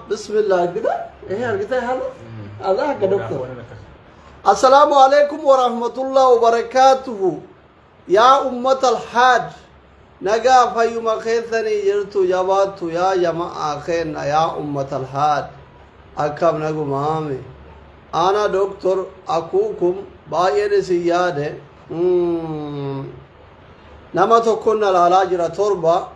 Bismillah argita. Eh argita haala. Allah akka doktor. Assalaamu alaikum wa rahmatullahi wa barakaatuhu. Yaa ummata alhaad. Nagaa fayyuma keessanii jirtu jabaattu yaa jama'aa keenna yaa ummata alhaad. Akkam nagumaame. Ana doktor akuukum baay'een isin yaade. Mm. Nama tokkoon na laalaa jira torba.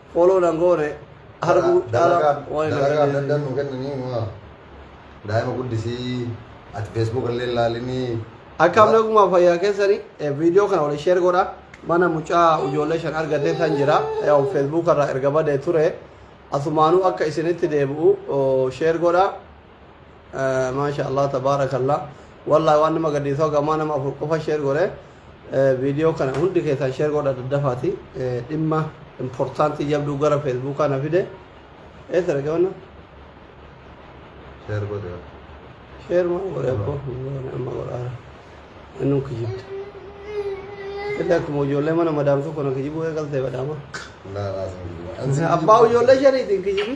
Follow nan goone arguu caala waan hin dalagaa arganne. daddan nu kennanii ma daa'ima guddisii ati feesbuuk illee ilaalinii Akkam nagumaa fayyaa keessani viidiyoo kana waliin sheer godha. Mana mucaa ijoollee shan argatee tan jira. Yaa'u feesbuuk irraa erga badee ture. Asumaanuu akka isinitti deebi'u sheer godha. maasha allah tabaarakallah wallahi waan nama gadhiisoo gamaa nama afur qofa sheer godhe viidiyoo kana hundi keessan sheer godha daddafaati dhimma importantii jabduu gara feesbuukaa na fide eessa dhaqe wanna Share godhe. sheer maa godhe abbo amma godhaara innuu kijibda illee akkuma ijoollee mana madaamtuu kana kijibuu eegaltee badhaama Laa laa sun. Abbaa ijoollee shaniitiin kijibi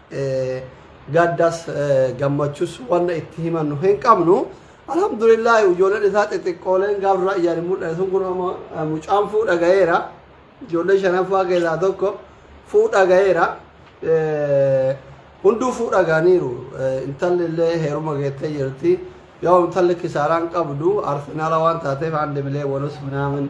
Gaddas gammachus wanna itti himannu hin qabnu. Alhamdulillah ijoolleen isaa xixiqqooleen gaafa irraa ijaan hin mul'anne sun kun amma mucaan fuudha gaheera. Ijoollee shanaffaa keessaa tokko fuudha gaheera. Hunduu fuudha gahaniiru. Intalli illee heeruma geettee jirti. Yoo intalli kisaaraan qabdu arsenaala waan taateef handi bilee wanus minaamin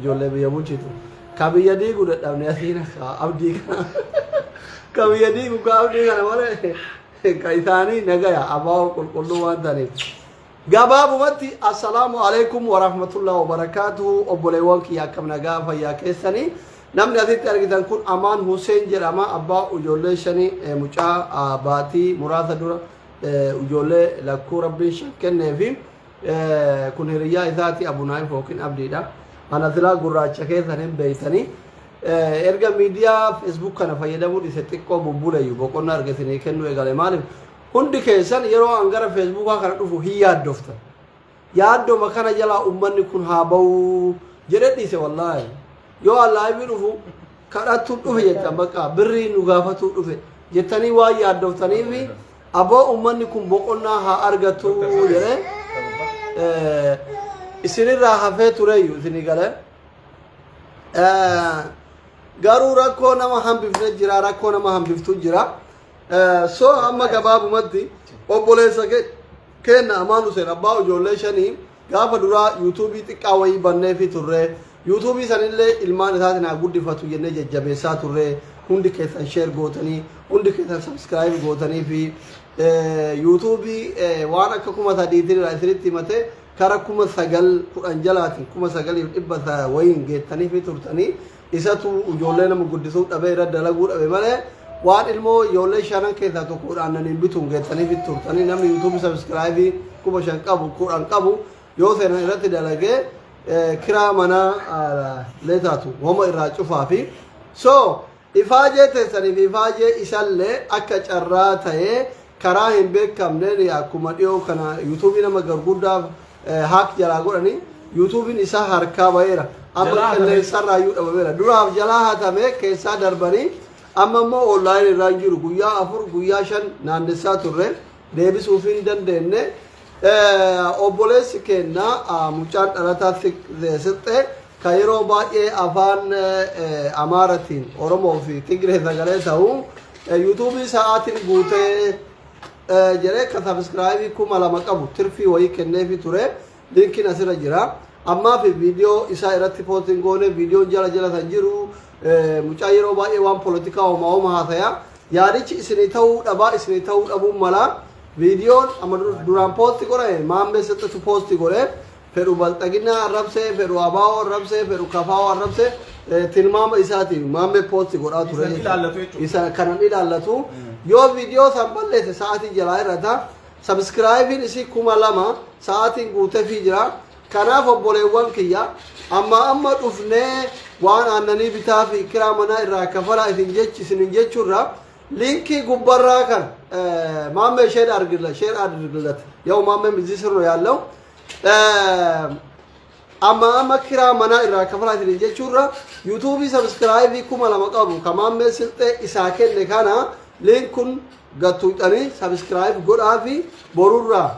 Ijoollee biyya bulchitu. Ka biyya diigu dadhabne asiin ka abdii kana. Ka biyya diigu ka abdii kana malee ka isaanii nagaya abaa'oo qulqulluu waan ta'aniif. Gabaabumatti assalaamu alaikum wa rahmatullahi wa barakaatuhu obboleewwan kiyya akkam nagaa fayyaa keessanii. Namni asitti argitan kun Amaan Hussein jedhama abbaa ijoollee shanii eh, mucaa ah, baatii muraasa dura eh, ijoollee lakkuu rabbiin shan kenneefi. Eh, kun hiriyyaa isaati abunaayif yookiin abdiidha ana silaa gurraacha keessan hin beeytanii Eh, erga miidiyaa feesbuuk kana fayyadamuu dhise xiqqoo bubbuleeyyu boqonnaa erga isinii kennuu eegale maaliif hundi keessan yeroo an gara feesbuukaa kana dhufu hin yaaddoftan yaaddoma kana jalaa ummanni kun haa ba'uu jedhe dhiise wallaahi yoo allaaybii dhufu kadhattuu dhufe jettan bakka birrii nu gaafatuu dhufe jettanii waan yaaddoftaniifi Aboo ummanni kun boqonnaa haa argatu jedhee eh, isinirraa hafee tureeyyu isinii galee. Eh, Garuu rakkoo nama hambifne jira rakkoo nama hambiftu jira. Eh, So amma gabaabumatti obboleessa ke- keenna Amaan Huseen abbaa ijoollee shanii Gaafa duraa yuutuubii xiqqaa wayii banneefii turre. Yuutuubii sanillee ilmaan isaatiin haa guddifatu jennee jajjabeessaa turre. Hundi keessan sheer gootanii, hundi keessan sabskiraayib gootanii fi yuutuubii waan akka kuma sadiitiin irraa isinitti himatee kara kuma sagal kudhan jalaatiin kuma sagaliif dhibba wayiin geettaniifii turtanii Isatu ijoollee nama guddisuu dhabee irra dalaguu dhabe malee waan ilmoo ijoollee shanan keessaa tokko kudhaan naniin bituun geettaniif turtanii namni yuutuubii sabiskiraayibii kuma shan qabu kudhan qabu yoo seenan irratti dalagee kiraa manaa leetaatu wama irraa cufaa fi so ifaajee teessanii fi ifaajee isallee akka carraa ta'ee karaa hin beekamneen akkuma dhiyoo kana yuutuubii nama garguddaaf eh, haak jalaa godhanii yuutuubiin isaa harkaa ba'eera amma Jalaa hatame. qilleensarraa iyyuu dhabameera duraaf jalaa hatamee keessaa darbanii amma immoo onlaayinii irraa hin jiru guyyaa afur guyyaa shan naannessaa turre deebisuuf hin dandeenye Eh, obboleessi keenya ah, mucaan dhalataa Fik- eh, sixxee ka yeroo baay'ee afaan eh, eh, amaaratiin oromoo fi tigree sagalee ta'u eh, yuutuubii sa'aatiin guutee jedhee ka sabiskiraayibii kuma lama qabu tirfii wayii kenneefi ture linkiin asirra jira ammaa fi viidiyoo isaa irratti poostiin goone viidiyoon jala jala san jiru mucaa yeroo baay'ee waan polotikaa homaa homa haasaya yaadichi isinii ta'uu dhabaa isinii ta'uu dhabuun malaa viidiyoon amma duraan poosti godhe maammee sixxatu poosti godhe fedhu balxaginaa arrabsee, fedhu abaa'oo arrabsee, fedhu kafaa'oo arrabsee eh, tilmaama isaatiin maammee poosti godhaa ture. Isan jechuudha. ilaallatu jechuudha. Isa kanan ilaallatu yoo viidiyoo san balleesse sa'aatii jalaa irrata sabiskiraayibiin isii kuma lama sa'aatiin guutefii jira. Kanaaf obboleewwan kiyya amma amma dhufnee waan aannanii bitaa fi kiraa manaa irraa kafalaa isin jechi isin jechuurra liinkii gubbarraa kan eh, maammee sheer argilla sheer argillata yoo maammee mizii sirno yaallau amma amma kiraa manaa irraa kafalaa isin jechuurra yuutuubii sabiskiraayibii kuma lama qabu kamaammee silxee isaa kenne kana liinkun gattuudhanii sabiskiraayib godhaa fi borurraa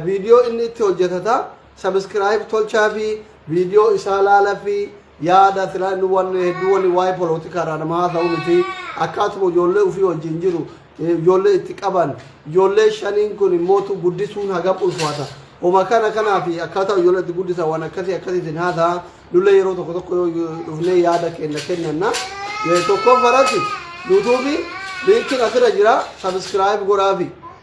viidiyoo inni itti hojjetata sabiskiraayib tolchaa fi viidiyoo isaa laala fi Yaada silaa inni wanni hedduu wanni waa'ee polootikaa irraa nama haasa'u miti. Akkaatuma ijoollee ofii wajjin jiru eh, ijoollee itti qaban ijoollee shaniin kun immoo tu guddisuun hagam ulfaata. Homa kana kanaa fi akkaataa ijoollee itti guddisan waan akkasii akkasiitiin haasa'a. Nullee yeroo tokko tokko yoo dhufnee yaada kenna kennanna. Eh, Tokkoon faratti yuutuubii liinkiin asirra jira sabiskiraayib godhaafi.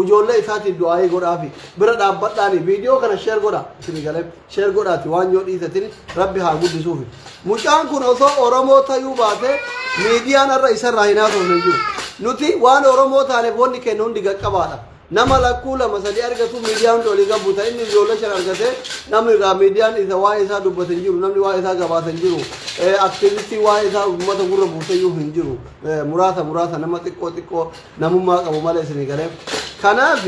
Ujoollee isaatiif du'aa'ii godhaafi. Bira dhaabbadhaani viidiyoo kana sheer godha isinii galee sheer godhaati waan yoo dhiisatin rabbi haa guddisuufi. Mucaan kun osoo Oromoo tayuu baatee miidiyaan har'a isarraa hin haasofne hin jiru. Nuti waan Oromoo taaneef wanni kennu hundi gaqqabaadha. Nama lakkuu lama sadii argatu miidiyaa hundi olii gabbu ta'e inni ijoollee shan argatee namni irraa miidiyaan isa waa'ee isaa dubbate hin jiru namni waa'ee isaa gabaasa hin jiru aktiivistii waa'ee isaa uummata gurra buusayyuu hin jiru muraasa muraasa nama xiqqoo xiqqoo namummaa qabu malee isinii galee kanaaf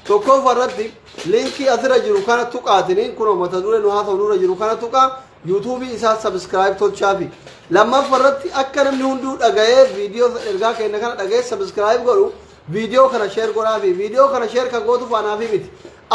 tokkoffaa irratti linkii asirra jiru kana tuqaatiniin kunoo mata duree nu haasa'u nurra jiru kana tuqaa yuutuubii isaa sabiskiraayib tolchaafi lammaffaa irratti akka namni hunduu dhaga'ee viidiyoo ergaa keenya kana dhaga'ee sabiskiraayib godhu viidiyoo kana sheer godhaafi viidiyoo kana sheer kan gootu faanaafi miti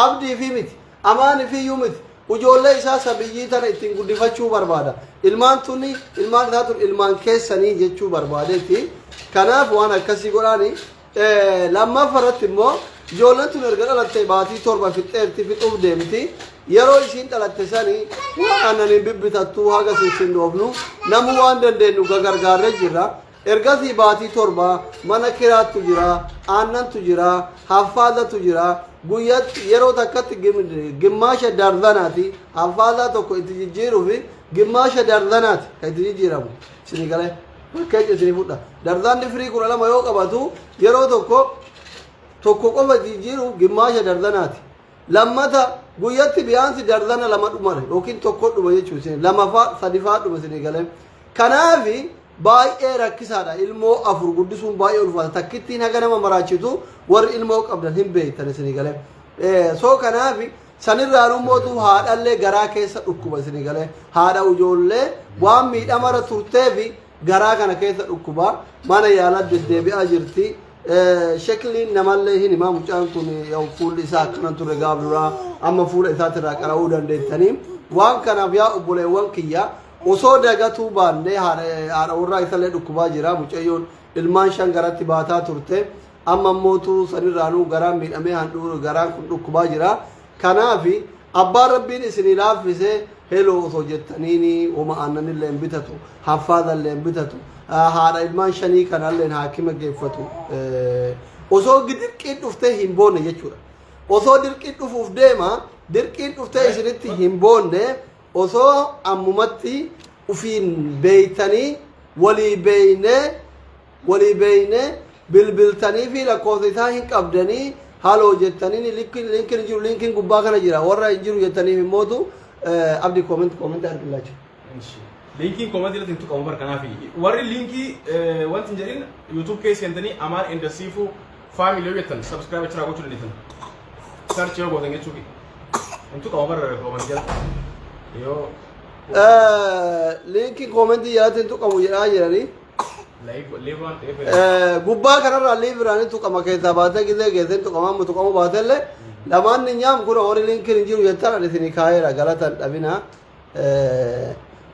abdiifi miti Amaan ifiyyuu miti. Ujoollee isaa sabiyyii tana ittiin guddifachuu barbaada. Ilmaan tunni ilmaan isaa tun ilmaan keessanii jechuu barbaadeetti. Kanaaf waan akkasii godhaani. Eh, Lammaffa irratti immoo ijoolleen tun erga dhalattee baatii torba fixxeerti fixuuf deemti. Yeroo isiin dhalatte sani waan aannaniin bibbitattu haga sissinnoofnu namuu waan dandeenyu gagargaarree jirra. Ergasii baatii torba mana kiraattu jira, aannantu jira, haffaazatu jira, guyyatti yeroo takkatti gimmaasha darzanaati, haffaazaa tokko itti jijjiiruufi gimmaasha darzanaati kan itti jijjiiramu. Isinii galee fakkeenya isinii fudha. Darzaanni firii kudha lama yoo qabatu yeroo tokko tokko qofa jijjiiruuf gimmaasha darzanaati. Lammata guyyatti biyaansi darzana lama dhumare yookiin tokko dhuma jechuun isin lamafaa sadifaa dhuma isin eegalee. Kanaaf baay'ee rakkisaadha ilmoo afur guddisuun baay'ee ulfaata takkittiin haga nama maraachitu warri ilmoo qabdan hin beektan isin eegalee. Soo kanaaf sanirraan ummootu haadhallee garaa keessa dhukkuba isin eegalee haadha ijoollee waan miidhamarra turteefi garaa kana keessa dhukkubaa mana yaalaa deddeebi'aa jirti. Shekliin namallee hin himaa mucaan kun fuulli isaa akkana ture gaaf duraa amma fuula isaatirraa qara'uu dandeettanii. Waan kanaaf yaa obboleewwan kiyya osoo dagatuu baannee haadha warraa isallee dhukkubaa jira mucayyoon ilmaan shan garatti baataa turte. Amma immootu sanirraanuu garaan miidhamee handhuura garaan kun dhukkubaa jira. Kanaaf abbaan rabbiin isinii laaffise heloo osoo jettaniini woma aannanillee hin bitatu, haffaalallee hin bitatu, ah, haadha ilmaan shanii kanallee haakima geeffatu. Eh, Osoo dirqiin dhuftee hin boonne jechuudha. Osoo dirqiin dhufuuf deema, dirqiin dhuftee isinitti hin boonne osoo ammumatti ufiin beeytanii walii beeynee Wali beyne bilbiltanifi lakofsa isaa hin qabdani halo jetanini linkin linkin hin jiru linkin gubba kana jira warra hin jiru jetanifi immotu abdi comment comment argillachu Ishi. Linkiin koomantii irratti hin tuqamu bar kanaaf warri linkii eh, wanti hin jedhin YouTube keessa seentanii Amaan Enda Siifuu faamilii yoo jettan subscribe achiraa gochuu dandeessan. Search yoo gootan jechuufi. Hin tuqamu bar koomantii jala. Yoo linkin comment jalatti hin tuqamu jedhaa jirani gubbaa kanarraa liibiraan hin tuqama keessaa baatee gizee geessee hin tuqama amma tuqamuu baatellee lamaan ni nyaam kun horii linkiin hin jiru jettan ani isinii kaa'eera galatan dhabina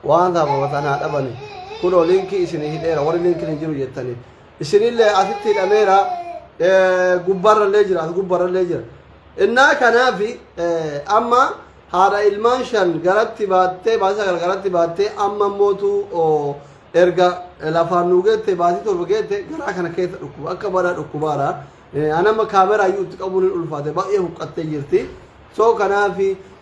waan saafamatan haa dhabani kun linkii isinii hidheera warri linkiin hin jiru jettanii isinillee asitti hidhameera gubbaarrallee jira as gubbaarrallee jira innaa kanaafi amma haadha ilmaan shan garatti baattee baasa gargaratti baattee amma mootu Erga lafaan nuu geette baatii torba geette garaa kana keessa dhukkuba akka badaa dhukkubaara. An amma kaameraa iyyuu itti qabuun hin ulfaate baay'ee huqqattee jirti. So kanaaf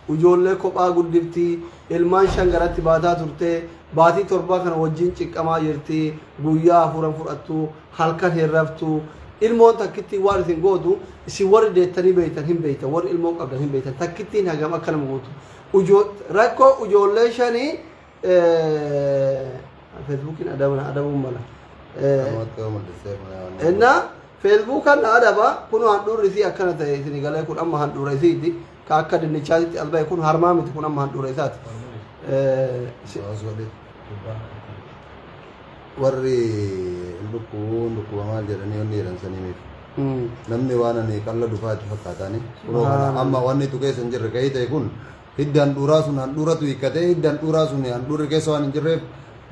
ijoollee kophaa guddifti ilmaan shan garatti baataa turte baatii torbaa kana wajjin ciqqamaa jirti guyyaa afuran fudhattu halkan hin raftu ilmoon takkittiin waan isin gootu isin warri deettanii beektan hin beektan warri ilmoo qabdan hin beektan takkittiin hagam akka nama gootu. Ujoo- Rakkoo ijoollee shanii Feesbuukiin adaba na adabuun mala. Namatti yoo mul'isee kun waan nama- Innaa feesbuukaan na adaba kun handhuurri isii akkana ta'e isin galee kun amma handhuura isiiti ka akka dinnichaatitti as ba'e kun harmaa miti kun amma handhuura isaati. Eh, si- Osoo osoo dhib- warri lukkuu lukkuba maal jedhanii wanni jedhan saniif mm. namni waan ani qalla dufaatti fakkaatani Subhanallah. amma wanni tu keessa hin jirre ka'ii ta'e kun Hiddi handhuuraa sun handhuuratu hiikkatee hiddi handhuuraa sun handhuurri keessa waan hin jirreef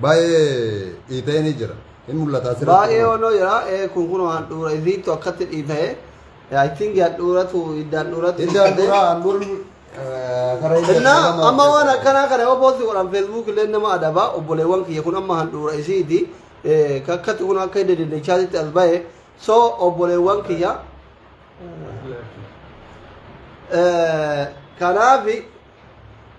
baay'ee dhiita'ee ni jira. Hin mul'ata asirratti. Baay'ee kunoo. onnoo jira. Ee kun kunoo handhuura isiittu akkatti dhiita'e. I think handhuuratu hidda handhuuratu. Hiddi handhuuraa handhuurri eh, karaa hidda Innaa jedhama. amma waan akkanaa kana yoo poosti godhan feesbuuk illee nama adaba obboleewwan kiyya kun amma handhuura isiiti. Eh, Akkatti kun akka hidda dinnichaatitti as ba'e. So obboleewwan kiyya eh, kanaafi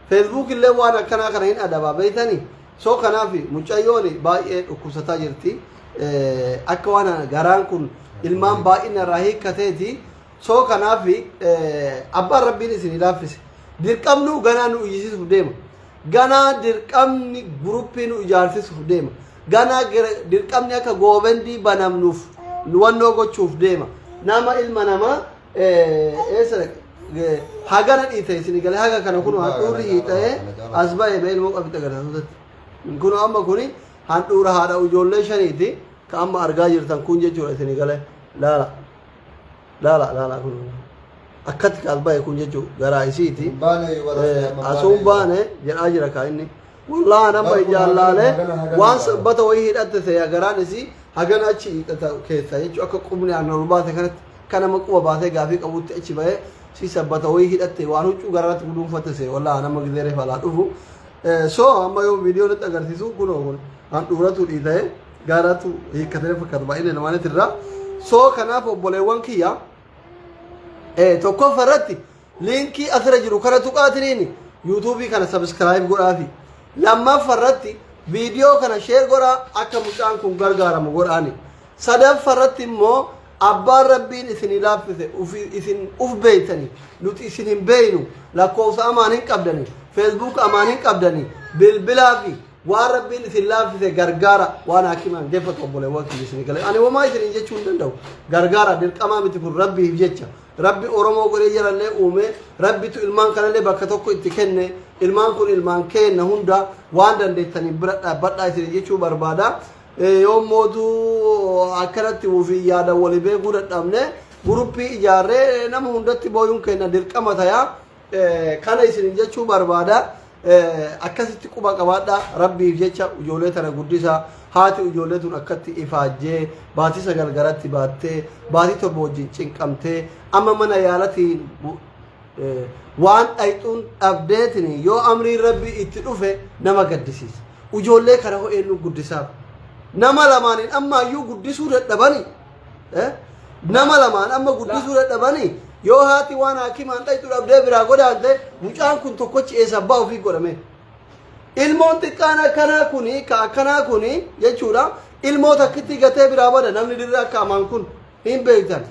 feesbuuk illee waan akkanaa kana hin adabaa beektanii so kanaafi mucayyoon baay'ee dhukkubsataa jirti Eh, akka waan garaan kun ilmaan baay'ina irraa hiikkateeti soo kanaaf abbaan rabbiin isin laaffise dirqamnuu ganaa nu iyyisiisuuf deema ganaa dirqamni guruppii nu ijaarsisuuf deema ganaa dirqamni akka goobendii banamnuuf wannoo gochuuf deema nama ilma namaa eessa hagana dhiite isin galee haga kana kun handhuurri hiixa'ee as ba'e ba'e ilmoo qabitti agarsiisuu kun amma kun handhuura haadha ijoollee shaniiti ka amma argaa jirtan kun jechuudha isin galee laala. Laala laala kun akkatti kaal bahe kun jechuu garaa isiiti. Hin baane wala- Eh, hin baane. Asuun baane jedhaa jira kaa inni. Wallaahi nama Barkuma ijaan hagana, laalee hagana, hagana waan baane. sabbata wayii hidhatte ta'e garaan isii hagana achi hidhata keessa jechuun akka qubni aan ol baate kanatti kan nama quba baatee gaafii qabutti achi bahee si sabbata wayii hidhatte waan huccuu garaatti guduunfatte ta'e wallaahi nama gizee reefalaa dhufu. Eh, So amma yoo viidiyoo nutti agarsiisu kunoo kun handhuuratu dhiita'e. gaaraatu hiikkatee fakkaatu baay'ina lamaanitti irraa soo kanaaf obboleewwan kiyya tokkoffa irratti liinkii asirra jiru kana tuqaatiniin yuutuubii kana sabiskiraayib godhaafi lammaffa irratti viidiyoo kana sheer godhaa akka mucaan kun gargaaramu godhaani sadaffa irratti immoo abbaan rabbiin isin laaffise isin uf beeytani nuti isin hin beeynu lakkoofsa amaan hin qabdani feesbuuk amaan hin qabdani bilbilaa fi Waan rabbiin isin laaffise gargaara waan haakimaan deeffatu obboleewwan kiyya isin gale. Ani homaa isiniin jechuu hin danda'u. Gargaara dirqamaa miti kun rabbiif jecha. Rabbi Oromoo godhee jarallee uumee rabbitu ilmaan kanallee bakka tokko itti kenne ilmaan kun ilmaan keenna hunda waan dandeettaniin bira dhaabbadhaa isin jechuu barbaada. Eh, Yoo mootuu akkanatti ofii yaada walii beekuu dadhabne guruppii ijaarree nama hundatti booyuun keenna dirqama tayaa. Kana isinin jechuu barbaada. Akkasitti quba qabaadhaa rabbiif jecha ijoollee tana guddisaa haati ijoollee tun akkatti ifaajjee baatii sagal garatti baattee baatii torba wajjin cinqamtee amma mana yaalatiin waan dhayxuun dhabdeetiin yoo amriin rabbii itti dhufe nama gaddisiisa. Ijoollee kana ho'eennu guddisaaf. Nama lamaaniin ammaayyuu guddisuu dadhabanii. Eh? nama lamaan amma guddisuu dadhabanii yoo haati waan haakimaan dhaqxu dhabdee biraa godhaante mucaan kun tokkochi eessa abbaa ofii godhame ilmoon xiqqaan akkanaa kuni ka akkanaa kuni jechuudha ilmoo takkitti gatee biraa bada namni dirree akka amaan kun hin beektan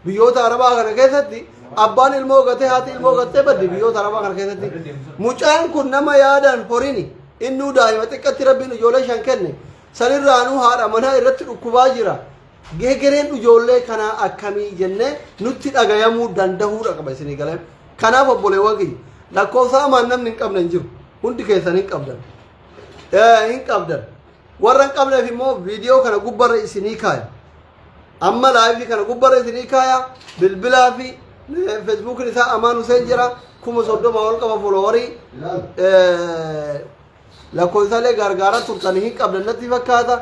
biyyoota arabaa kana keessatti abbaan ilmoo gatee haati ilmoo gattee baddi biyyoota arabaa kana keessatti mucaan kun nama yaadaan horini innuu daa'ima xiqqatti rabbiin ijoollee shan kenne Sanirraanuu haadha manaa irratti dhukkubaa jira. Geegereen ijoollee kanaa akkamii jennee nutti dhagayamuu dandahuudha qaba isinii galee. Kanaaf obboleewwan kiyya lakkoofsa hamaan namni hin qabne hin jiru. Hundi keessan hin qabdan. Eh, hin qabdan. Warra hin qabneef immoo viidiyoo kana gubbarra isinii kaaya. Amma laayifii kana gubbarra isinii kaaya. Bilbilaa fi eh, feesbuukiin isaa Amaan Huseen jira. Kuma soddoma ol qaba foloowarii. Eh, lakkoofsaalee gargaaraa turtan hin qabdan natti fakkaata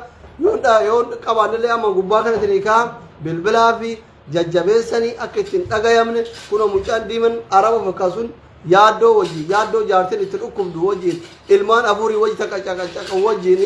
yoo dha- yoo qabaannillee amma gubbaa kanatti ni ka'a bilbilaa fi jajjabeessanii akka ittiin dhagayamne kunoo mucaan diiman araba fakkaa sun yaaddoo wajjin yaaddoo jaartiin itti dhukkubdu wajjin ilmaan afurii wajji takka caqacaqa wajjin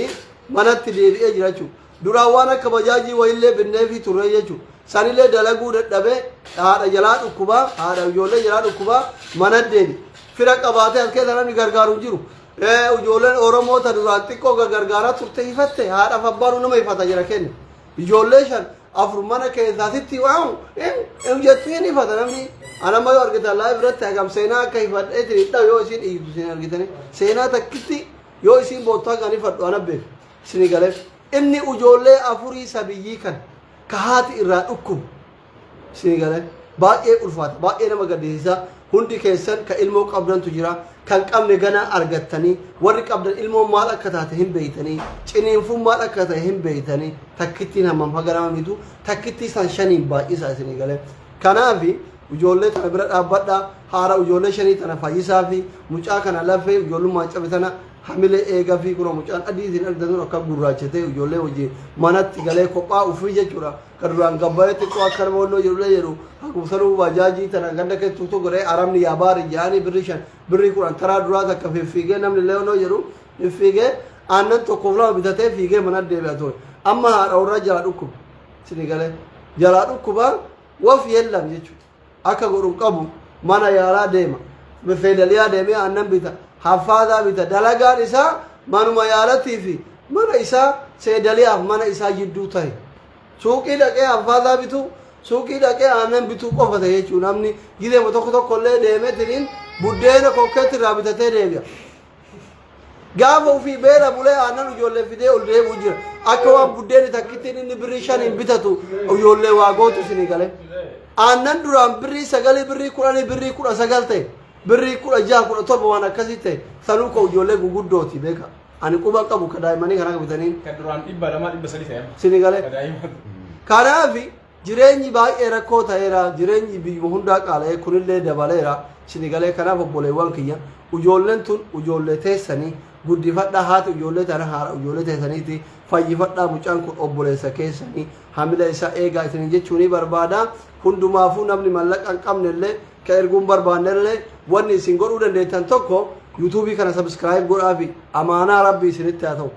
manatti deebi'ee jira jechuudha. Duraan waan akka bajaajii wayiillee binneefii turre jechuudha. Sanillee dalaguu dadhabee haadha jalaa dhukkubaa, haadha ijoollee jalaa dhukkubaa mana deebi. Fira qabaatee as keessa namni gargaaru hin jiru. Eh, Ijoolleen Oromoo ta duraan xiqqoo ga- gargaaraa turte hifatte haadhaaf abbaanu nama hifata jira kenna. Ijoollee shan afur mana keessaa sitti waamu hin hin jettu hin hifata namni. Ana amma yoo argitan laa biratti hagam seenaa akka hifadhee jiridha yoo isin iyyutu isin argitanii. Seenaa takkitti yoo isin boottaa kan hifadhu ana beeku. Sini galee? Inni ujoollee afurii sabiyyii kan ka haati irraa dhukkubu. Sini galee? Baay'ee ulfaata. Baay'ee nama gaddisiisa. Hundi keessan ka ilmoo qabdantu jira. Kan qabne ganaa argattanii. Warri qabdan ilmoon maal akka taate hin beeytanii. Ciniinfuun maal akka ta'e hin beeytanii. Takkittiin hammam haga nama miitu. Takkittii san shaniin baay'isa isinii galee. Kanaafi ujoollee tana bira dhaabbadha. Haara ujoollee shanii tana fayyisaa fi mucaa kana lafee ujoollummaan cabe tana Hamilee eegafii kunoo mucaan adii isin argitan sun akka gurraachatee ijoollee wajjin manatti galee kophaa ufii jechuudha. Kan duraan gabbaree xiqqoo akka nama wannoo jedhullee jedhu haguugsanuu baajaajii tana ganda keessa tokko godhee arabni yaa baari jedhanii birrii shan birrii kudhan taraa duraa takka fiffiigee namni illee wannoo jedhu fiffiigee aannan tokkoof lama bitatee fiigee mana deebi'a ture. Amma haadha warraa jalaa dhukkuba. Sini galee jalaa dhukkuba waf yellam jechuudha. akka godhu hin qabu mana yaalaa deema feedaliyaa deemee aannan bita haffaadaa bita dalagaan isaa manuma yaalatii fi mana isaa seedaliyaaf mana isaa jidduu tahe suuqii dhaqee haffaadaa bituu suuqii dhaqee aannan bituu qofa ta'e jechuun namni gideema tokko tokko illee deemetiniin buddeena kokkeetti irraa bitatee deebi'a. Gaafa ofii beela bulee aannan ijoollee fidee ol deebi'u jira. Akka waan buddeenni takkittiin inni birrii shaniin bitatu ijoollee waa gootu isinii galee. Aannan duraan birrii sagalii birrii kudhanii birrii kudha sagal ta'e birrii kudha jaha kudha torba waan akkasii ta'e sanuu koo ijoollee guguddooti beeka. Ani quba qabu ka daa'immanii kana akka bitanii Kan duraan dhibba lamaa dhibba sadii ta'e. isinii galee. Daa'ima. Kanaafi Jireenyi baay'ee rakkoo ta'eera, jireenyi biyyuma hundaa qaala'ee kunillee dabaleera, sini galee kanaaf obboleewwan kiyya ujoolleen tun ujoollee teessani guddifadhaa haati ujoollee tana haadha ujoollee teessaniiti fayyifadhaa mucaan kun obboleessa keessani hamila isaa eegaa isinin jechuu ni barbaada hundumaafuu namni mallaqa hin qabnellee ka erguun barbaannellee wanni isin godhuu dandeettan tokko yuutuubii kana sabiskiraayib godhaafi amaanaa rabbi isinitti haa ta'u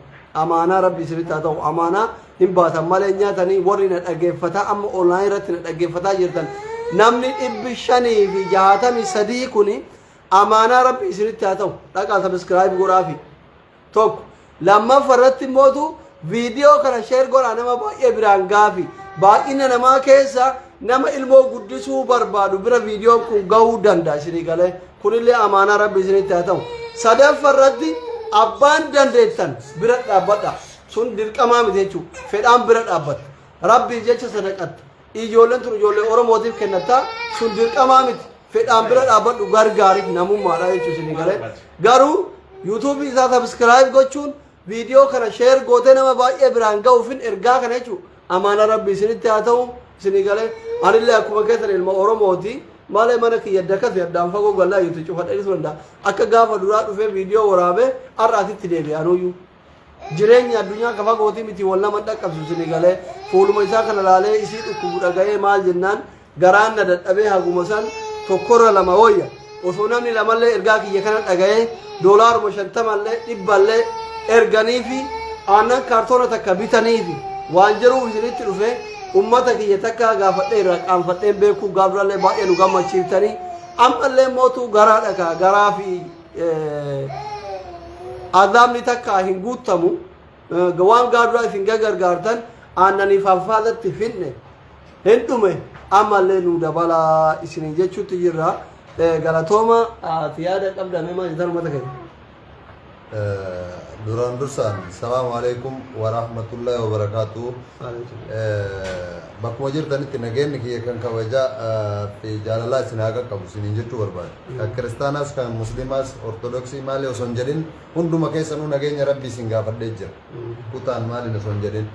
amaanaa rabbi isinitti haa ta'u amaanaa hin baasan malee hin nyaatanii warri na dhaggeeffataa amma online irratti na dhaggeeffataa jirtan namni dhibbi shanii fi jaatamii sadii kuni amaanaa rabbi isinitti haa ta'u dhaqaa sabiskiraayib godhaafi tokko lammaffa irratti mootu viidiyoo kana sheer godhaa nama baay'ee biraan gaafi baay'ina namaa keessa nama ilmoo guddisuu barbaadu bira viidiyoo kun ga'uu danda'a isinii galee kunillee amaanaa rabbi isinitti haa ta'u sadaffa irratti abbaan dandeettan bira dhaabbadha sun dirqamaa miti jechuun fedhaan bira dhaabbatta rabbiif jecha sadaqatta ijoolleen tun ijoollee oromootiif kennatta sun dirqamaa miti fedhaan bira dhaabbadhu gargaariif namummaadha jechuun isin galee garuu yuutuubii isaa sabiskiraayib gochuun viidiyoo kana sheer gootee nama baay'ee biraan ga'uufin ergaa kana jechuun amaana rabbi isinitti haa ta'u isin galee anillee akkuma keessan ilma oromooti malee mana kiyya dakas yaddaan fagoo gallaa yuutu cufadhee dhiisu danda'a akka gaafa duraa dhufee viidiyoo waraabee har'aatitti deebi'anuyyuu Jireenyi addunyaa ka fagooti miti wol nama hin dhaqqabsu sini galee fuuluma isaa kana laalee isii dhukkubu dhagayee maal jennaan garaan na dadhabee haguma san tokkorra lama woyya osoo namni lamallee ergaa kiyya kana dhagayee doolaaruma shantamallee dhibballee erganiifi aannan kaartoona takka bitaniifi waan jedhuuf isinitti dhufe ummata kiyya takka gaafadhee irraa qaanfadheen beekuu gaaf durallee baay'ee nu gammachiiftanii ammallee mootu garaa dhakaa garaa fi azaabni takka hin guuttamu waan gaadura isin gagargaartan aannanii faaffaadatti fidne hin dhume ammallee nu dabalaa isin jechuutti jirra galatooma ati yaada qabdame maa jetan ummata keenya duraan dursaan salaamu alaikum warahmatullahi wabarakaatu bakkuma jirtanitti nageenni kiyya kan kabajaa fi jaalalaa isin haa qaqqabu isiniin jechuu barbaada Kan kiristaanaas kan musliimaas ortodoksii maali osoo hin jedhin hunduma keessanuu nageenya rabbii isin gaafadhee jira. Kutaan maaliin osoo hin jedhin.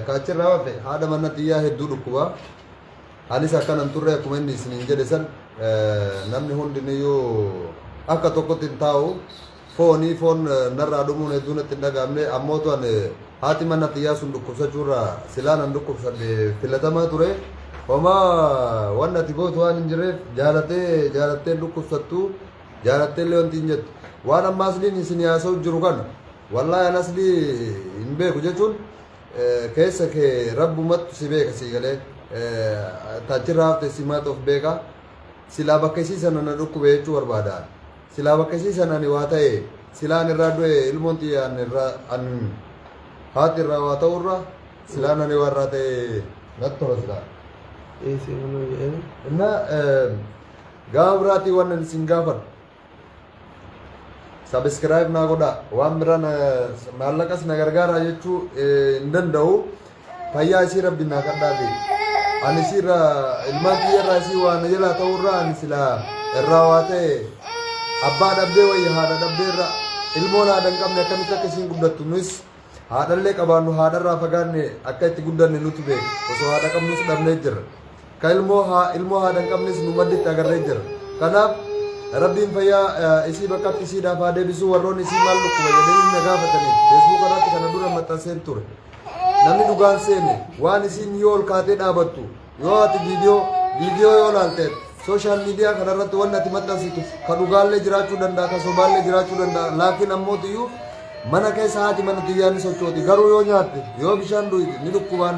Ka achirraa hafe haadha manna tiyyaa hedduu dhukkuba. Anis akkanan turre akkuma inni isiniin jedhe san namni hundiniyyuu akka tokkotti hin taa'u. Fooni foon narraa dhumuun hedduu natti hin dhaga'amne ammootu an haati manna tiyyaa sun dhukkubsachuurra silaa nan dhukkubsadhe filatamaa ture. Homaa waan ati gootu waan hin jirreef jaalatee jaalattee hin dhukkubsattu jaalattee illee wanti hin jettu. Waan amma asliin isin haasa'u jiru kana wallaahi an aslii hin beeku jechuun eh, keessa kee rabbumattu si beeka sii galee eh, taachirraa hafte simaatu of beeka. Silaa bakka isii sana na dhukkube jechuu barbaada. Silaa bakkasii san ani waa ta'ee silaa an irraa du'e ilmoon tiyya an irraa an haati irraa waa ta'u irraa silaan ani waa irraa ta'e natti tola silaa. Dhiisii manuu jedheen. Inna gaafa biraatii waan ani isin gaafadhu. Sabiskiraayib naa godhaa. Waan biraan maallaqas na gargaaraa jechuu hin danda'u. Fayyaa isii rabbi naa kadhaa bee. Ani isii irraa ilmaan kiyya irraa isii waa na jalaa ta'uu irraa ani silaa irraa waa ta'e abbaa dhabdee wayya haadha dhabdee irra ilmoon haadha hin qabne akkamitti akka isiin guddattu nus haadhallee qabaannu haadha irraa fagaanne akka itti guddanne nutu beeka osoo haadha qabnus dhabnee jirra. Ka ilmoo haa ilmoo haadha hin qabnes nu madditti agarree jirra. Kanaaf rabbiin fayyaa eh, isii bakkatti isiidhaaf haa deebisuu warroonni isii maal dhukkuba jedhanii na gaafatanii feesbuuka irratti kana dura maxxanseen ture. Namni dhugaan seene waan isiin yoo ol kaatee dhaabattu yoo ati viidiyoo viidiyoo yoo laalteet sooshaal miidiyaa kanarratti wanni ati maxxansitu ka dhugaallee jiraachuu danda'a ka sobaallee jiraachuu danda'a laakiin ammootiyyuu mana keessa haati mana tiyyaa ni sochooti garuu yoo nyaatte yoo bishaan dhuyde ni dhukkubaan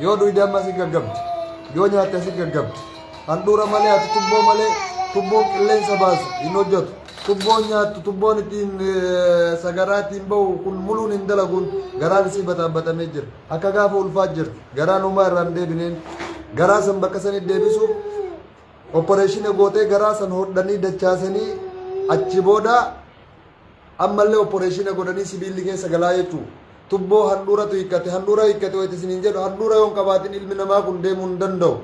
yoo dhuyde amma asi gaggabdi yoo nyaatte asi gaggabdi handhuura malee ati tubboo malee tubboon qilleensa baasu hin hojjetu Tubboon nyaattu, tubboon ittiin sagaraa ittiin bahu kun muluun hin dalaguun garaan isii bataabbatamee jira. Akka gaafa ulfaat jirti. Garaan homaa irraa hin deebineen. Garaa san bakka sanitti deebisuuf oppareeshina gootee garaa san hodhanii dachaasanii achi booda ammallee oppareeshina godhanii sibiilli keessa galaa jechuu. Tubboo handhuuratu hiikkate, handhuura hiikkate wayita isiniin jedhu handhuura yoo hin qabaatin ilmi namaa kun deemuu hin danda'u.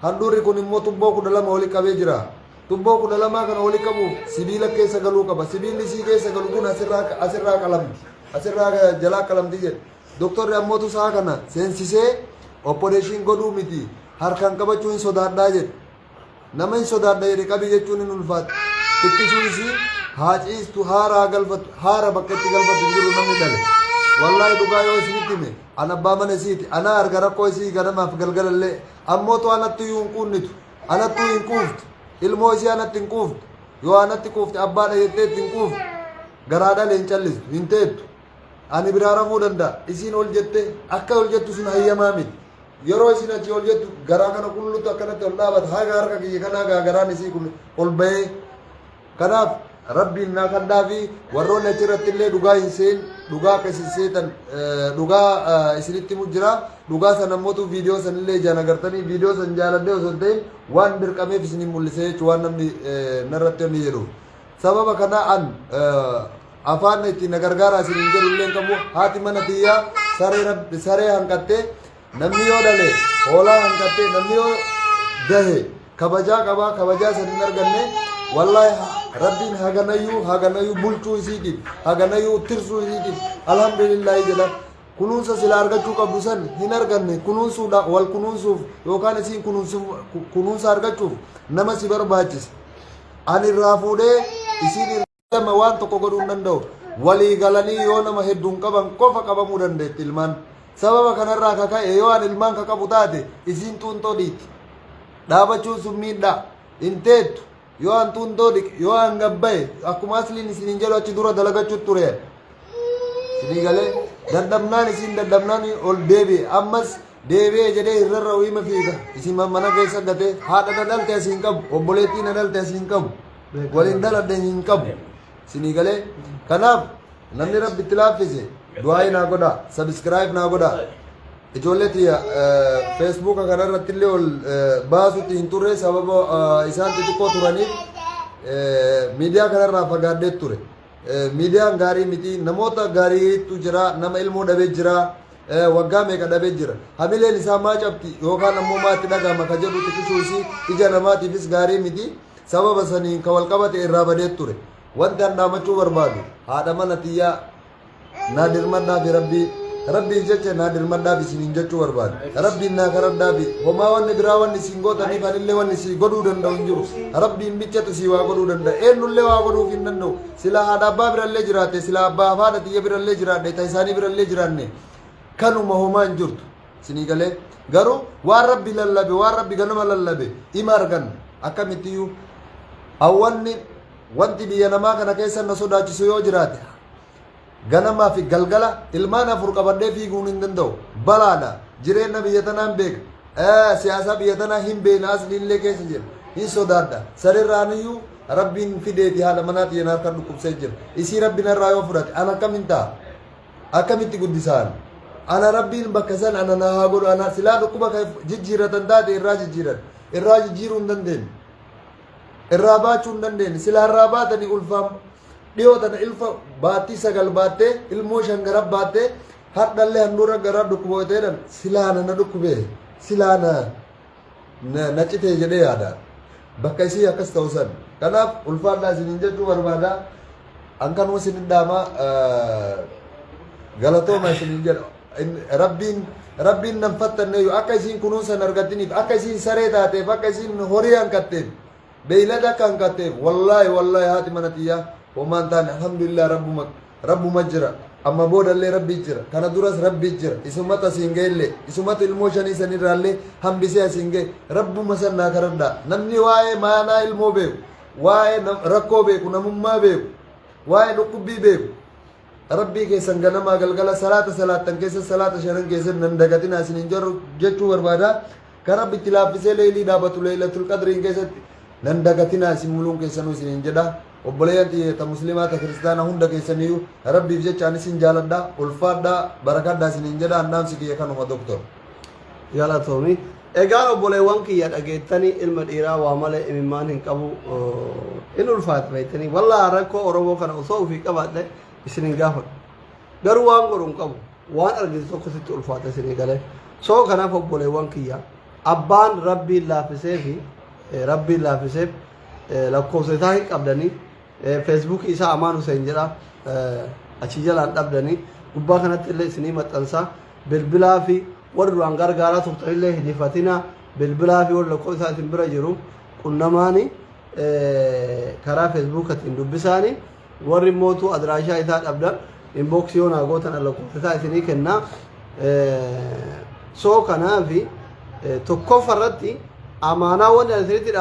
Handhuurri kun immoo tubboo 12 wali qabee jira. Tubboo 12 kana wali qabuuf sibiila keessa galuu qaba. Sibiilli isii keessa galu kun asirraa asirraa qalamti. Asirraa jalaa qalamti jedhe. Doktorri ammootu isaa kana seensisee opporeeshiin godhuu miti harkaan qabachuu hin sodaadhaa jedhe. Nama hin sodaadha jedhe qabi jechuun hin ulfaatu. Xiqqisuu isii haa ciistu haara haa galfatu haara bakka itti galfatu hin jiru namni dhale. Wallaahi dhugaa yoo isinitti hime An abbaa mana isiiti. Anaa arga rakkoo isii ganamaaf galgalallee. Ammootu anattuyyuu hin quunnitu. Anattuu hin quuftu. Ilmoo isii anatti hin quuftu. Yoo anatti quufte abbaadha jettee itti hin quuftu. Garaadhale hin callistu. Hin teettu. Ani biraa rafuu danda'a. Isiin ol jettee akka ol jettu sun hayyamaa miti. Yeroo isin achi ol jettu garaa kana qullutu akkanatti ol dhaabata. Haga harka kiyya kanaa gaa garaan isii kun ol bahee Kanaaf Rabbiin naa kadhaafi warroonni achirratti illee dhugaa hin seen dhugaa akka isin seetan dhugaa isinitti himu jira dhugaa san ammotu viidiyoo san illee ijaan agartanii viidiyoo san jaaladhee osoo hin ta'in waan dirqameef isiniin mul'ise jechuun waan namni narratti onni jedhu sababa kanaa an afaan ittiin na gargaaraa isiniin jedhu illee qabu haati mana tiyyaa saree hanqattee Namni yoo dhale hoolaa hanqattee namni yoo dahe kabajaa qabaa kabajaa san hin arganne wallaahi rabbiin haganayyuu haganayyuu bulchuu isiitiif haganayyuu tirsuu isiitiif alhamdulillaahi jedha kunuunsa sila argachuu qabdu san hin arganne kunuunsuudha wal kunuunsuuf yookaan isiin kunuunsa argachuuf nama si barbaachisa ani irraa fuudhee isiin lama waan tokko godhuu hin danda'u. Walii galanii yoo nama hedduun qaban qofa qabamuu dandeetti ilmaan. Sababa kanarraa ka ka'e yoo an ilmaan ka qabu taate isiin xuuntoo dhiitti. Dhaabachuun sun miidhaa. Hin teettu. Yoo an xuuntoo dhiqe yoo an gabbaye akkuma asliin isiniin jedhu achi dura dalagachuu ture. Isinii galee dadhabnaan isiin dadhabnaan ol deebi'e. Ammas Deebi'e jedhee hin rarra'u hima fiiga. Isin mana keessa gatee haadha na dhalte asii hin qabu. Obboleettii na dhalte asii hin qabu. Waliin dhaladhe hin qabu. Isinii galee. Kanaaf namni rabbi itti laaffise du'aayi naa godha. Sabiskiraayib naa godha. Ijoollee tiyya feesbuuka kanarratti illee ol eh, baasutti hin turre sababa eh, isaan xixiqqoo turaniif eh, miidiyaa kanarraa fagaadhee ture. Eh, Miidiyaan gaarii miti. Namoota gaariitu jira. Nama ilmoo dhabee jira. waggaa meeqa dhabee jira. Hamileen isaa maa cabti yookaan ammoo maa itti dhagahama ka jedhu xiqqisuu isii ija namaatiifis gaarii miti. Sababa saniin ka walqabate irraa badee ture. Wanti an dhaamachuu barbaadu haadha mana tiyyaa naa dirmadhaafi rabbii rabbiif jecha naa dirmadhaaf isiniin jechuu barbaadu. Rabbiin naa karadhaafi homaa wanni biraa wanni isin gootaniif anillee wanni sii godhuu danda'u hin jiru. Rabbiin bichatu sii waa godhuu danda'a. Eennullee waa godhuuf hin danda'u. Silaa haadha abbaa birallee jiraatte, silaa abbaa fi haadha tiyya birallee jiraadhe, ta isaanii birallee jiraanne, kanuma homaa hin jirtu. Isinii galee? Garuu waan Rabbi lallabe, waan Rabbi ganama lallabe ima arganna. Akkamittiyyuu awwanni wanti biyya namaa kana keessa na sodaachisu yoo jiraate, Ganamaa fi galgala ilmaan afur qabadhee fiiguun hin danda'u. Balaadha. Jireenna biyya tanaan beeka. Eh, siyaasaa biyya tanaa hin beekna as dhiillee keessa jira. Hin sodaadha. Sarirraaniyyuu rabbiin fideeti haadha manaa tiyya na harka dhukkubsee jira. Isii rabbi narraa yoo fudhate an akkamin ta'a? Akkamitti guddisaan? Ana rabbiin bakka san ana na haa godhu ana silaa dhukkuba kan jijjiiratan taate irraa jijjiiran. Irraa jijjiiruu hin dandeenye. irraa baachuu hin dandeenye sila irraa baatanii ulfaan dhiyoo tana ilfa baattii sagal baattee ilmoo shan gara baattee hadhallee handhuura garaa dhukkubootedhan silaana na dhukkubee silaana na na citee jedhee yaada bakka isii akkas ta'u san kanaaf ulfaadhaa isiniin jechuu barbaada an kanuma isinin dhaama galatooma isinin jedha In- rabbiin rabbiin nan fattanneeyyu akka isiin kunuunsan argattiniif akka isiin saree taateef akka isiin horii hanqatteef Beeylada akka hanqatteef wallaahi wallaahi haati mana tiyyaa homaa hin taane alhamdulillah rabbuma rabbuma jira amma boodallee rabbi jira kana duras rabbi jira isumatu asiin ga'ellee isumatu ilmoo shanii sanirraallee hambisee asiin ga'e rabbuma san naa karadhaa namni waa'ee maanaa ilmoo beeku waa'ee nam- rakkoo beeku namummaa beeku waa'ee dhukkubbii beeku rabbii keessan ganamaa galgala salaata salaattan keessa salaata shanan keessan nan dagatinaa isinin jarru jechuu barbaada Ka Rabbi itti laaffisee leeylii dhaabatu leeylatul qadriin keessatti nan dagatinaa isin muluun keessanuu isiniin jedha. Obboleeyyan tiyya ta muslimaa ta kiristaana hunda keessaniyyu Rabbiif jecha an isin jaaladha. Ulfaadha barakadha isiniin jedha an dhaamsi kiyya kanuma Doktor. Galatoomi. Egaan obboleewwan kiyya dhageettanii ilma dhiiraa waa malee imimmaan hin qabu hin ulfaatu beektanii. Wallah rakkoo Oromoo kana osoo ofii qabaadhe isin hin gaafadhu. garuu waan godhu hin qabu waan argite tokko sitti ulfaata isin eegalee soo kanaaf obboleewwan kiyya abbaan rabbiin laaffisee fi eh, rabbiin laaffiseef eh, lakkoofsa isaa hin qabdanii eh, feesbuukii isaa amaan huseen jedha eh, achi jalaan dhabdanii gubbaa kanatti illee isinii maxxansaa bilbilaa fi warri duraan gargaaraa turtan illee hin hifatinaa bilbilaa fi warri lakkoofsa isaa isin bira jiru qunnamaanii eh, karaa feesbuukatiin dubbisaanii Warri mootuu adraashaa isaa dhabdan inbox yoo naa gootan an lakkoofsa isaa isinii kenna. So kanaafi tokkoffa irratti amaanaa wanni ani isinitti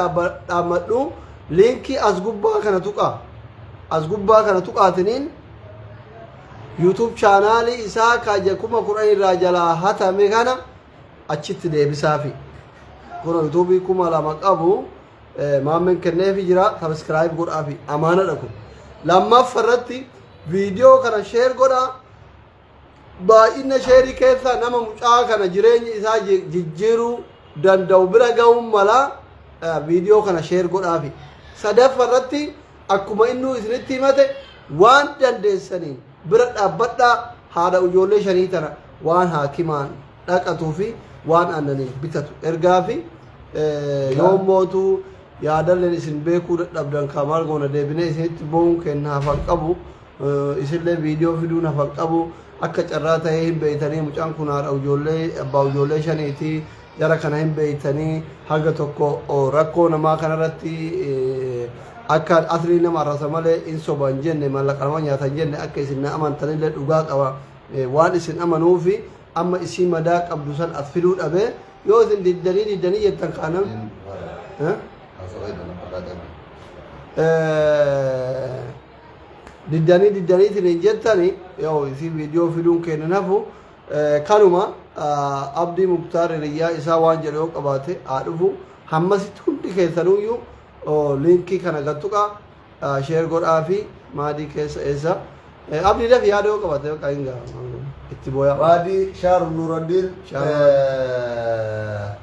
dhaammadhu liinkii as gubbaa kana tuqaa. As gubbaa kana tuqaatiniin YouTube chaanaalii isaa kaja kuma kudhan irraa jalaa hatame kana achitti deebisaafi. Kun YouTube kuma lama qabu. Maammeen kenneefi jira sabiskiraayib godhaafi amaanadha kun. Lammaffa irratti viidiyoo kana sheer godhaa. Baay'ina sheerii keessaa nama mucaa kana jireenya isaa ji- jijjiiruu danda'u bira ga'uun mala eh, viidiyoo kana sheer godhaafi. Sadaffa irratti akkuma innuu isinitti himate waan dandeessaniin bira dhaabbadhaa haadha ijoollee shanii tana waan haakimaan dhaqatuu fi waan aannaniin bitatu ergaa fi Yoon mootu yaadalleen isin beekuu dadhabdan kaa maal goona deebinee isinitti bo'uun kenna hafan qabu isinlee viidiyoo fiduun hafan qabu akka carraa ta'ee hin beeytanii mucaan kun haadha ijoollee abbaa ijoollee shaniiti jara kana hin beeytanii haga tokko rakkoo namaa kanarratti akka asrii nama arrasa malee hin soban jenne mallaqa nama nyaatan jenne akka isin na amantanillee dhugaa qaba waan isin amanuufi amma isii madaa qabdu san as fiduu dhabee Yoo isin diddanii diddanii jettan kaanam. Hin faaya. Eh? Haasawaa itti nama dhaqan. Eh, diddanii diddanii isin hin jettani yoo isin viidiyoo fiduun kennan hafu eh, kanuma ah, abdii muktaar hiriyyaa isaa waan jedhu yoo qabaate haa dhufu hammasitti hundi keessanuyyuu oh, liinkii kana gattuqa Share godhaafi maadii keessa eessa. Abdii daf yaada yoo qabate bakka hin ga'a. Itti booyaa. Maadi shaar Nuuraddiin Shaar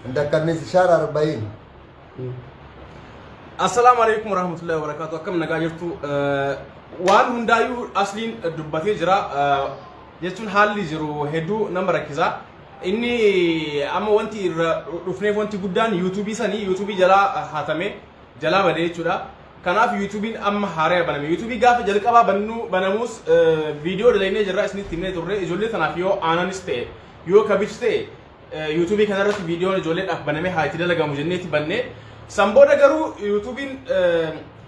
Ndakkannis shaar Arba'iin. Assalaamu alaikum warahmatullahi wabarakatuh. Akkam nagaa jirtu Eh, waan hundaayyuu asliin dubbatee jira Eh, jechuun haalli jiru hedduu nama rakkisa. Inni amma wanti irra dhufneef wanti guddaan yuutuubii sanii yuutuubii jalaa hatame jalaa bade jechuudha. Kanaaf yuutuubiin amma haaraya baname. Yuutuubii gaafa jalqabaa bannuu banamuus viidiyoo dalaynee jirra isinitti himnee turre ijoollee tanaaf yoo aananis ta'e yoo kabich ta'e yuutuubii kanarratti viidiyoon ijoolleedhaaf banamee haa itti dalagamu jenneeti banne. San booda garuu yuutuubiin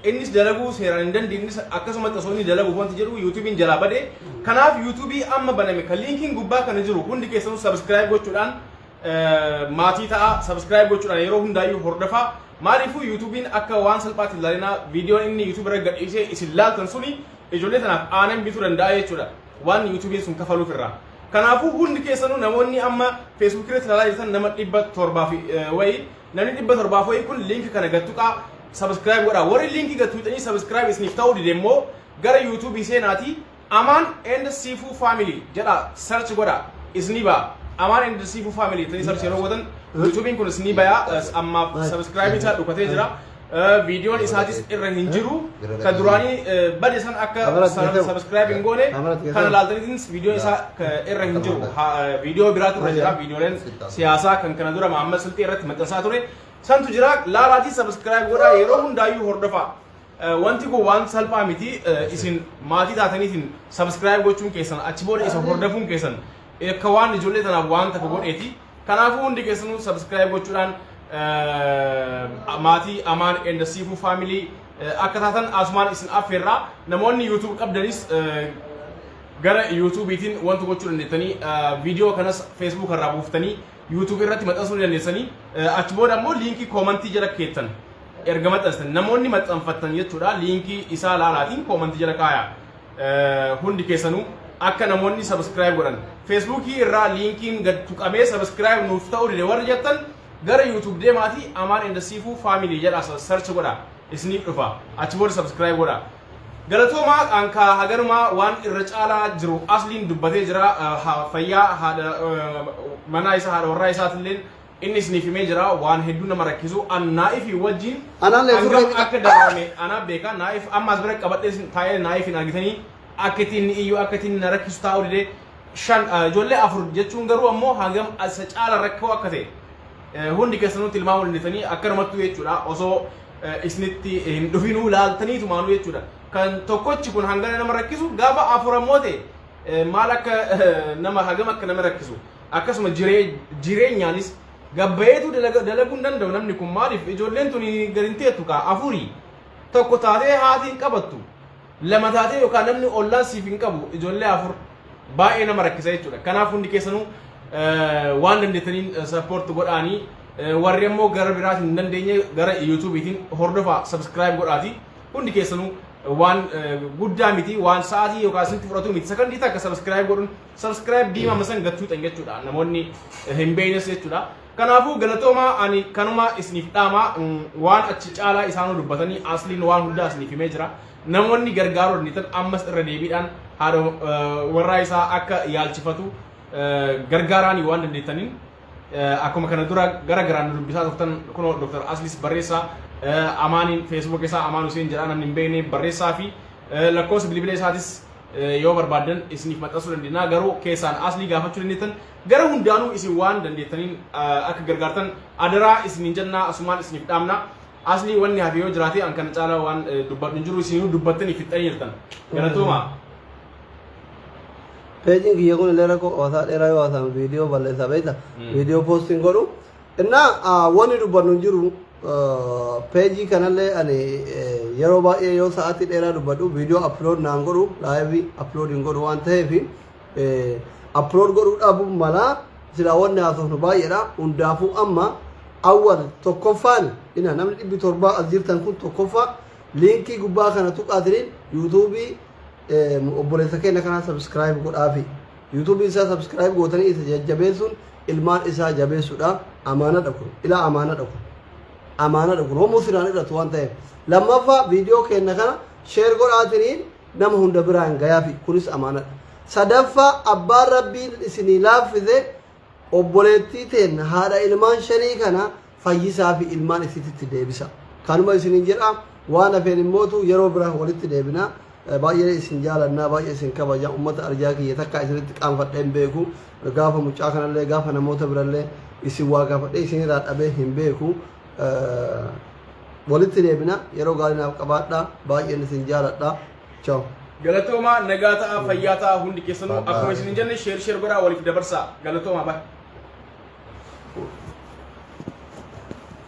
innis dalaguu seeraan hin dandeenyes akkasumatti osoo inni dalaguuf wanti jedhu yuutuubiin jalaa bade. Kanaaf yuutuubii amma baname kan liinkiin gubbaa kana jiru hundi keessanuu sabiskiraayib gochuudhaan maatii ta'a subscribe gochuudhaan yeroo hundaayyuu hordofaa maaliifuu yuutuubiin akka waan salphaatti ilaalinaa viidiyoon inni yuutuubi irra gadhiisee isin laaltan suni ijoollee tanaaf aanan bituu danda'a jechuudha waan yuutuubiin sun kafaluuf irraa kanaafuu hundi keessanuu namoonni amma feesbuuk irratti ilaalaa jirtan nama dhibba torbaa fi wayii namni dhibba torbaaf wayii kun liinki kana gattuqaa subscribe godhaa warri liinkii gattuuxanii subscribe isiniif ta'uu dide immoo gara yuutuubii seenaatii Amaan and siifuu family jedha search godha isni ba'a Amaan and siifuu family jettanii search yeroo gootan yuutuubiin kun isni baya ammaaf subscribe isaa dhukatee jira viidiyoon isaatis irra hin jiru ka duraanii bade san akka subscribe hin goone kana laaltaniitinis viidiyoon isaa irra hin jiru viidiyoo biraatu irra jira viidiyooleen siyaasaa kan kana dura Mahammad Silxii irratti maxxansaa ture santu jira laalaatii subscribe godha yeroo hundaayyuu hordofaa Wanti kun waan salphaa miti isin maatii taataniitiin subscribe gochuun keessan achi booda isa hordofuun keessan akka waan ijoollee tanaaf waan takka godheeti kanaafuu hundi keessanuu subscribe gochuudhaan maatii amaan and siifuu family akka taatan asumaan isin affeerraa namoonni youtube qabdanis gara yuutuubiitiin wanta gochuu dandeessanii viidiyoo kanas feesbuuk irraa buuftanii yuutuubii irratti maxxansuu dandeessanii achi booda immoo liinkii koomantii jala keessan Erga maxxanstan namoonni maxxanfattan jechuudha liinkii isaa laalaatiin koomantii jala kaayaa Eh, hundi keessanuu akka namoonni subscribe godhan Facebook irraa liinkiin gad tuqamee subscribe nuuf ta'uu dide warri jettan gara YouTube deemaatii Amaan and Siifuu family jedha search godha isiniif dhufa achi booda subscribe godha galatoomaa qaankaa haganumaa waan irra caalaa jiru asliin dubbatee jira Eh, ha- fayyaa haadha eh, manaa isaa haadha warraa isaatilleen Inni isiniif himee jira waan hedduu nama rakkisu an Naa'ifii wajjin Anaallee hangam surree xiqqa- akka daraarame anaaf beeka Naa'if amma as bira qabadhee sin- taa'ee Naa'ifin argitanii akka ittiin ni iyyu akka ittiin na rakkisu taa'uu didee shan ah, ijoollee afur jechuun garuu ammoo hangam isa caala rakkoo akka ta'e eh, hundi keessanuu tilmaamuu dandeessanii akkanumattuu jechuudha osoo eh, isinitti hin dhufinuu laaltanii tumaanuu jechuudha kan tokkochi kun hangana nama rakkisu gaafa afur ammoo ta'e eh, maal akka eh, nama hagam akka nama rakkisu akkasuma jiree jireenyaanis gabbayeetu dalaga- dalaguu hin danda'u namni kun maaliif ijoolleen tuni gad hin teettu kaa afurii tokko taatee haati hin qabattu lama taatee yookaan namni ollaan siif hin qabu ijoollee afur baay'ee nama rakkisa jechuudha kanaaf hundi keessanuu eh, waan dandeettaniin sappoorti godhaanii eh, warri ammoo gara biraatiin hin dandeenye gara yuutuubiitiin hordofaa sabskiraayib godhaati hundi keessanuu waan eh, guddaa miti waan sa'aatii yookaan isinitti fudhatu miti sakandii takka sabskiraayib godhuun subscribe diimama san gad tuuxan jechuudha namoonni hin beeynes jechuudha kanaafuu galatoomaa ani kanuma isiniif dhaamaa waan achi caalaa isaanuu dubbatanii asliin waan hundaa isiniif himee jira namoonni gargaaruu dandeettan ammas irra deebiidhaan haadha warraa isaa akka yaalchifatu gargaaraanii waan dandeettaniin akkuma kana dura gara garaan nu dubbisaa turtan kunoo Dr. Aslis barreessaa Amaaniin Facebook isaa Amaan Huseen jedhaa namni hin beekne barreessaa fi lakkoofsa bilbila isaatis yoo barbaaddan isiniif maxxansuu dandeenya garuu keessaan aslii gaafachuu dandeettan gara hundaanuu isin waan dandeettaniin akka gargaartan adaraa isiniin jennaa asumaan isiniif dhaamna aslii wanni hafe yoo jiraate an kana caalaa waan dubbadhu hin jiru isinuu dubbattanii fixxanii jirtan galatooma. Peejiin kiyya kun illee rakkoo hawaasaa dheeraa yoo haasa'an viidiyoo balleessaa beekta. Viidiyoo poostiin godhu Inna wanni dubbannu hin jiru peejii kanallee ani yeroo baay'ee yoo sa'aatii dheeraa dubbadhu viidiyoo aplood naan godhu laayivii aplood hin godhu waan ta'eef aplood godhuu dhabuun malaa silaa wanni haasofnu baay'eedha hundaafuu amma awwal tokkoffaan ina namni dhibbi torbaa as jirtan kun tokkoffaa liinkii gubbaa kana tuqaatiniin yuutuubii obboleessa keenya kanaa sabiskiraayib godhaafi. YouTube isaa subscribe gootanii isa jajjabeessuun ilmaan isaa jabeessuudha amaanadha kun ilaa amaanadha kun amaanadha kun homuu siraan irratti waan ta'eef lammaffaa viidiyoo keenna kana sheer godhaatiniin nama hunda biraan gayaafi kunis amaanadha sadaffaa abbaan rabbiin isinii laaffise obboleettii teenna haadha ilmaan shanii kana fayyisaa fi ilmaan isititti deebisa. Kanuma isinin jedha waan hafeen immootu yeroo bira walitti deebina. Baay'ee isin jaalannaa baay'ee isin kabaja ummata arjaa kiyya takka isinitti qaanfadhee hin beeku. Gaafa mucaa kanallee gaafa namoota birallee isin waa gaafadhee isinirraa dhabee hin beeku. Walitti deebina yeroo gaarii naaf qabaadha baay'een isin jaaladha. Ciao. Galatoomaa nagaa ta'aa fayyaa ta'aa hundi keessanuu Bye bye. akkuma isin hin jenne sheer sheer godhaa waliif dabarsaa galatoomaa bye.